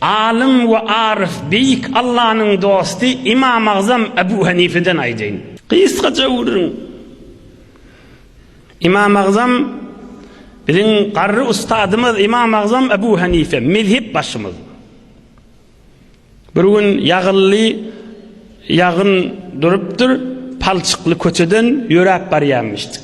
Alym we aryf, beýik Allanyň dosty Ymamagzam Ebu Henifeden aýdaýyn. Gysgaça öwrüň. Ymamagzam, biziň garry ustadymyz Ymamagzam Ebu Henife, mezhep başymyz. Bir gün ýagylly ýagyn durupdyr, palçykly köçeden ýöräp barýamyşdyk.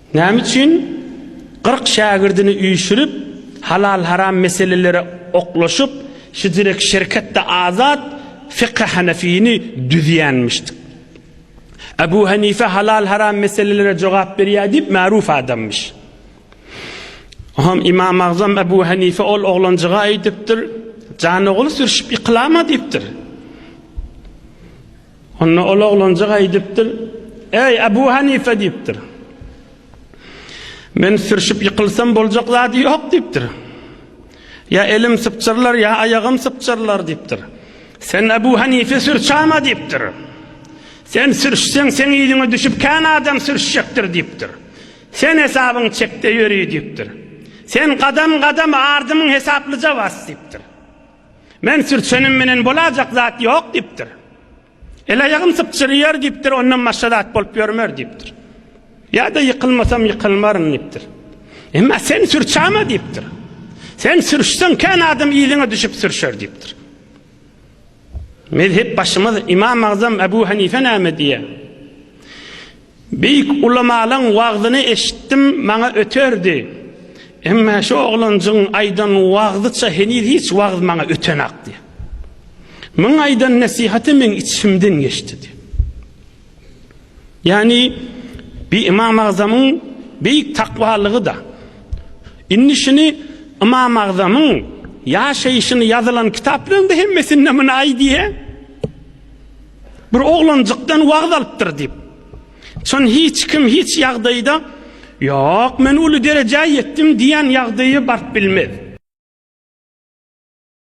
Näme üçin kyrk şägirdini üýşürip, halal-haram meselelere oklaşyp, Hijrek şirketde azat Fykhy Hanefini düzýänmişdik. Ebu Hanife halal-haram meselelere jogap berýär diýip märuf adamyş. Oňam Imam Agzam Ebu Hanife ol oglanjyga aýdypdyr, Janogly sürşüp ýykylama diýipdir. Onda ol oglanjyk aýdypdyr, Äý, Abu Hanife diýipdir. Men sürşüp ýykylsam boljak zady ýok diýipdir. Ýa elim sypjyrlar, ýa aýagym sypjyrlar diýipdir. Sen Abu Hanife sürçama diýipdir. Sen sürşseň seň ýüzüňe düşüp kän adam sürşjekdir diýipdir. Sen hesabyň çekde ýöri diýipdir. Sen gadam-gadam ardymyň hesaplyja bas diýipdir. Men sürtsenim menen bolajak zat ýok diýipdir. El aýagym sypjyrýar diýipdir, ondan başga zat bolup ýörmer diýipdir. Ýa-da ýykylmasam ýykylmaryn diýipdir. Emma sen sürçäme diýipdir. Sen sürşseň kän adam yzyňa düşüp sürşer diýipdir. Mezhep başymyz Imam Agzam Ebu Hanife näme diýýär? Beýik ulamalaň wagzyny eşitdim maňa öterdi. Emma şu oglanjygyň aýdan wagzyça heniz hiç wagz maňa ötenak diýýär. Muň aýdan nesihaty meň içimden geçdi diýýär. Ýagny bi Imam Agzamyň beýik takwalygy da. Indi şuny Imam Agzamyň ýaşaýşyny ýazylan kitaplarynda hemmesinde muny aýdýar. Bir oglanjykdan wagt alypdyr diýip. Çyn hiç kim hiç ýagdaýda ýok men uly derejä ýetdim diýen ýagdaýa baryp bilmez.